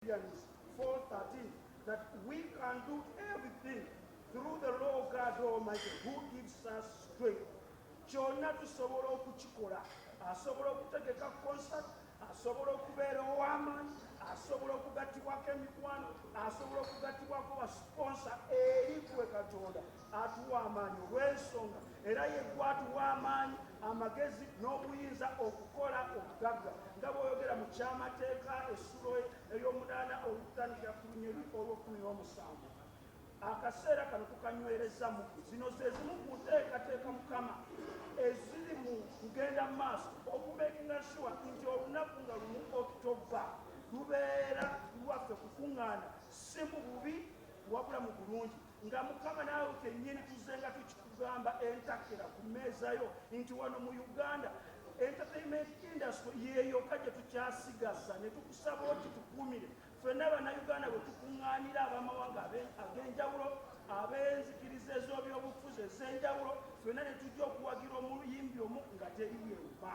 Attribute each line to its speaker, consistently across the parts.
Speaker 1: Philippians 4:13 that we can do everything through the law of God Almighty who gives us strength. Kyonna tusobola okukikola. Asobola okutegeka concert, asobola okubeera ow'amaanyi, asobola okugattibwako emikwano, asobola okugattibwako basponsa eri gwe Katonda atuwa amaanyi olw'ensonga era ye gwatuwa amaanyi amagezi n'obuyinza okukola obugagga nga bw'oyogera mu kyamateeka essulo ey'omunaana olutandikira ku lunyeri olw'okkumi n'omusanvu akaseera kano tukanywereza mu zino ze zimu ku nteekateeka mukama eziri mu kugenda mu maaso okumekinga shuwa nti olunaku nga lumu okitoba lubeera lwaffe kukuŋŋaana si mu bubi wabula mu bulungi nga mukama naawe kenyini tuzenga tukikugamba entakira ku mmeeza yo nti wano mu uganda entertainment industry yeyoka gye tukyasigaza ne tukusaba oti tukumire ffenna bannayuganda bwe tukuŋŋaanira abamawanga ag'enjawulo ab'enzikiriza ez'obyobufuzi ez'enjawulo ffenna ne tujja okuwagira omuyimbi omu nga teri yemba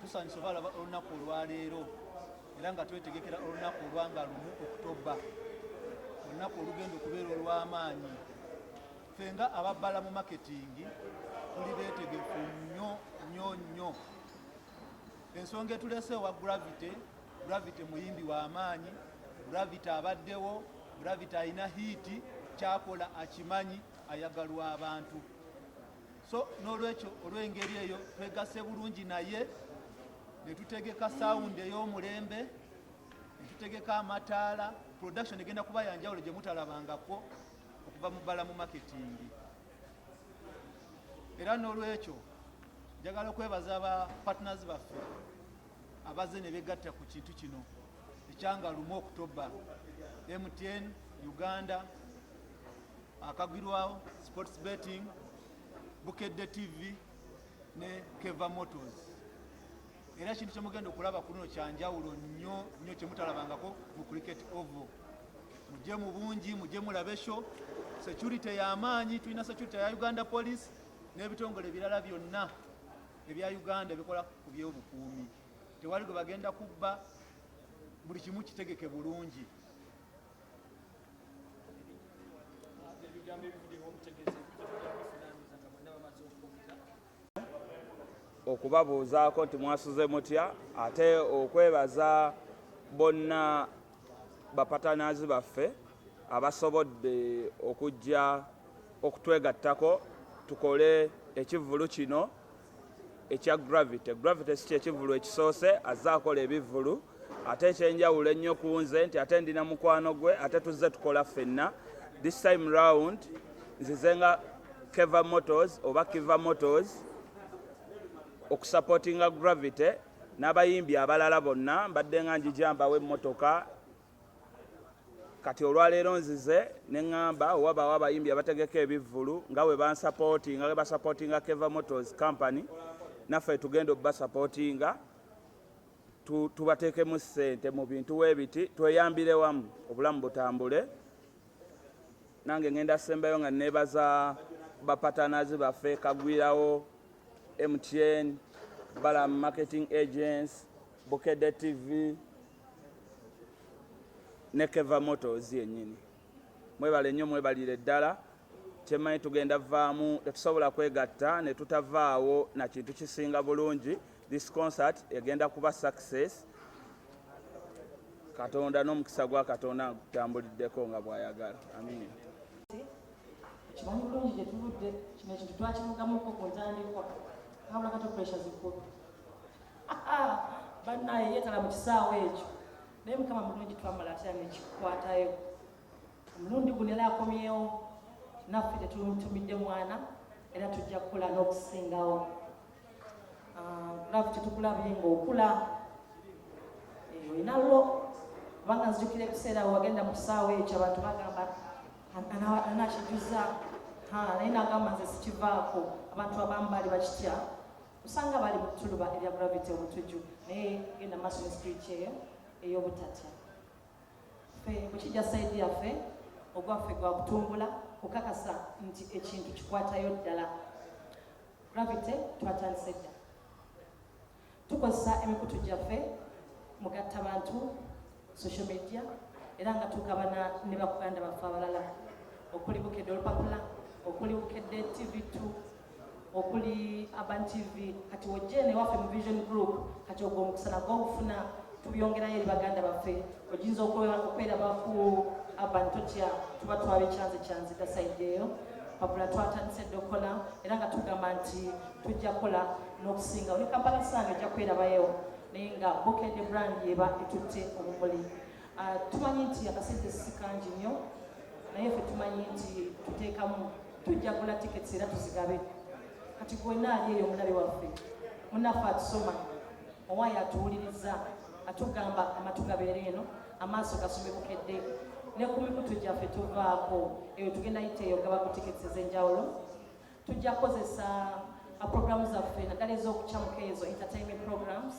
Speaker 2: tusanyusa obalaba olunaku olwaleero era nga twetegekera olunaku olwanga lumu okutoba olunaku olugenda okubeera olw'amaanyi fe nga ababbala mu maketingi tuli beetegefu nnyo nnyo nnyo ensonga etulese ewa gravity gravity muyimbi w'amaanyi gravity abaddewo gravity alina hiiti kyakola akimanyi ayagalwa abantu so n'olwekyo olw'engeri eyo twegase bulungi naye ne tutegeka sawundi ey'omulembe ne tutegeka amataala production egenda kuba yanjawulo gye mutalabangako okuva mu bbala mu maketingi era n'olwekyo njagala okwebaza ba partners baffe abaze ne begatta ku kintu kino ekyanga lumu okutobba mtn uganda akagirwawo sports betting bukedde tv ne keva motors era kintu kyemugenda okulaba ku luno kyanjawulo nnyo nnyo kyemutalabangako mu cricket ovo mujje mu bungi mujje mulabe sho security yamaanyi tulina security ya uganda police n'ebitongole ebirala byonna ebya uganda ebikola ku byobukuumi tewali gwe bagenda kubba buli kimu kitegeke bulungi
Speaker 3: okubabuuzaako nti mwasuze mutya ate okwebaza bonna bapatanaazi baffe abasobodde okujja okutwegattako tukole ekivvulu kino ekya gravity gravity si kyekivulu ekisoose azze akola ebivulu ate ekyenjawulo ennyo ku nze nti ate ndina mukwano gwe ate tuzze tukola ffenna this time round nzize nga keva motors oba kiva motors okusupportinga gravity n'abayimbi abalala bonna mbadde nga njijambawo emmotoka kati olwaleero nzize ne ŋŋamba wabaawo abayimbi abategeka ebivvulu nga we bansapootinga we basapootinga keva motors company naffe tugenda obubasapootinga tubateekemu ssente mu bintu weebiti tweyambire wamu obulamu butambule nange ŋŋenda sembayo nga neebaza bapatanazi baffe kagwirawo mtn balam marketing agents bukede tv ne keva motos yenyini mwebale nnyo mwebalire ddala kyemmanyi tugenda vaamu tetusobola kwegatta ne tutavaawo na kintu kisinga bulungi this concert egenda kuba success katonda n'omukisa gwa katonda gutambuliddeko nga bwayagala amiina kimanyi bulungi gye
Speaker 4: tuvudde kino ekintu twakivugamuko ku ntandikwa habula kato pressure zikulu bannaye yeetala mu kisaawa ekyo naye mukama mulungi twamala atya nekikwatayo omulundi guno era akomyewo naffe tetumutumidde mwana era tujja kukula n'okusingawo love ah, tetukulabye ngaokula eh, olina lwo kubanga nzijukira ebiseera wagenda mu kisaawa ekyo abantu bagamba anakijuza naye nagamba nze sikivaako abantu abambaali bakitya osanga bali mutuluba ebya gravity obutuju naye genda maaso ne spirit eyo ey'obutatya fe kukijja saidi yaffe ogwaffe gwa kutumbula kukakasa nti ekintu kikwatayo ddala gravity twatandise dda tukozesa emikutu gyaffe mugatta bantu social media era nga tugabana ne bakuganda baffe abalala okuli bukedde olupapula okuli bukedde tv t okuli urban tv kati wojene waffe mu vision group kati ogwo omukusana gwogufuna tubyongerayo eri baganda baffe oginza okweraba ku urban totya tuba twabikyanze kyanze gasaidde eyo papula twatandise dde okukola era nga tugamba nti tujja kukola n'okusinga oli kampala saani ojja kwerabayo naye nga bukende brand yeba etutte obumuli ah, tumanyi nti akasente sikangi nnyo naye fe tumanyi nti tuteekamu tujja gula tickets era tuzigabe kati gwena ali eyo omulabe waffe munafe atusoma owaayo atuwuliriza atugamba amatu gabeera eno amaaso gasome bukedde ne ku mikutu gyaffe tuvaako eyo tugenda yiteeyo gaba ku tickets ez'enjawulo tujja kukozesa uh, programu zaffe naddala ez'okucamuka ezo entertainment programs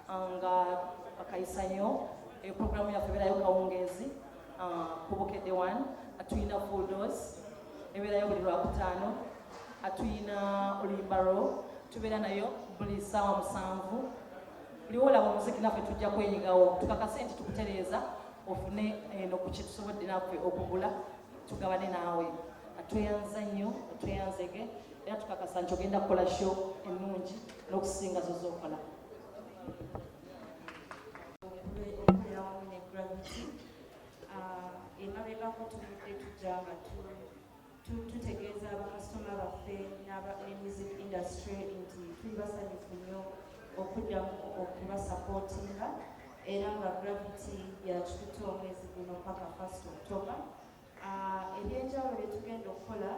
Speaker 4: uh, nga bakayisanyo eyo eh, programu yaffe ebeerayo kawungeezi uh, ku bukedde one atulina full dose ebeerayo buli lwakutaano atulina oluyimba lwo tubeera nayo buli ssaawa musanvu buli wolaba omuziki naffe tujja kwenyigawo tukakase nti tukutereeza ofune eno eh, ku kyetusobodde naffe okugula tugabane naawe tweyanza nnyo tweyanzege era tukakasa nti ogenda kukola sho ennungi n'okusinga zo zokola
Speaker 5: ah, emabegako tubudde tujja nga tutegeeza bakasitoma baffe n'aba music industry nti tuli basanyufu nnyo okuddamu okubasapootinga era nga gravity yakitutte omwezi guno paka first october ah, ebyenjawulo byetugenda okukola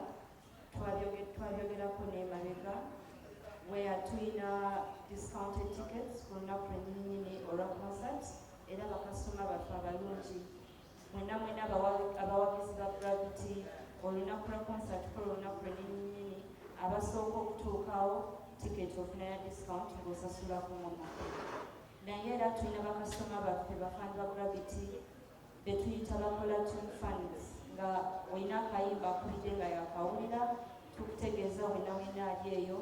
Speaker 5: twabyogerako nemabega where tulina discounted tickets ku lunaku lwenyininyini olwa concert era bakasitoma baffe abalungi mwena mwena abawagizi ba gravity olunaku lwa concert kola olunaku lwenyininyini abasooka okutuukawo ticket ofuna ya discount ng'osasula ku mumaka naye era tulina bakasitoma baffe bafani ba gravity betuyita bakola tune fans nga olina akayimba akubidde nga yakawulira tukutegeeza wena wena ali eyo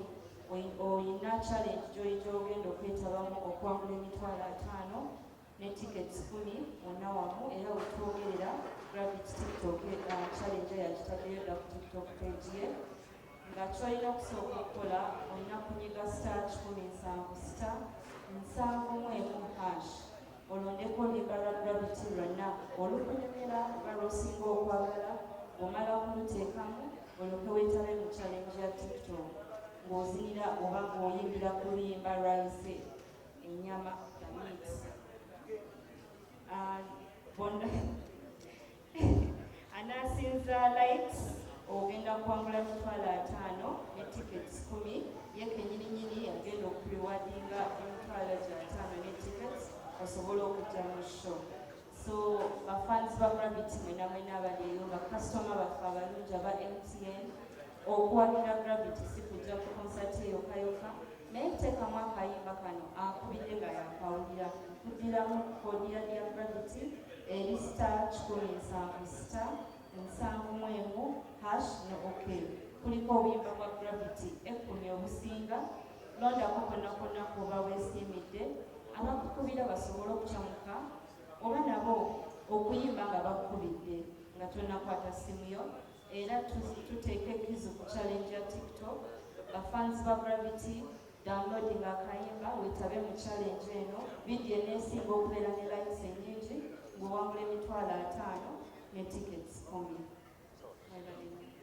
Speaker 5: olina challenge gyoyita ogenda okwetabamu okwangula emitwalo ataano ne tickets kumi wonna wamu era wetwogerera gravity tiktok uh, challenge yagitaddeyo dda ku tiktok page ye Nga ky'olina okusooka okukola olina kunyiga star kikumi nsanvu sita nsanvu mu emu hash olondeko oluyiga lwa Gravity lwa na olukunyumira oba lw'osinga okwagala bw'omala kuluteekamu olyoke weetabe mu challenge ya TikTok ng'ozinira oba ng'oyimbira ku luyimba lwayise enyama the meat. Uh, anaasinza likes ogenda kuwangula emitwalo ataano ne tickets kumi ye kenyininyini agenda okuliwadinga emitwalo gyataano ne tickets osobola okujja mu show so bafans ba gravity mwena mwena abaleero bakasitoma baffe abalungi aba mtn Okuwagira Gravity si kujja ku konsati eyo kayoka naye kuteekamu akayimba kano akubidde nga yakawulira kuddiramu kodiya lya Gravity eri star kikumi nsanvu star nsanvu mu emu hash ne ok kuliko obuyimba bwa Gravity ekkumi obusinga londako konna konna kuba weesiimidde abakukubira basobole okucamuka oba nabo okuyimba nga bakukubidde nga tonakwata simu yo Era tuteeka ekkizo ku challenge ya TikTok. Ba fans ba Gravity downloading akayimba wetabe mu challenge eno. Vidiyo eneesinga okubeera ne likes ennyingi ng'owangula emitwalo ataano ne tickets kumi.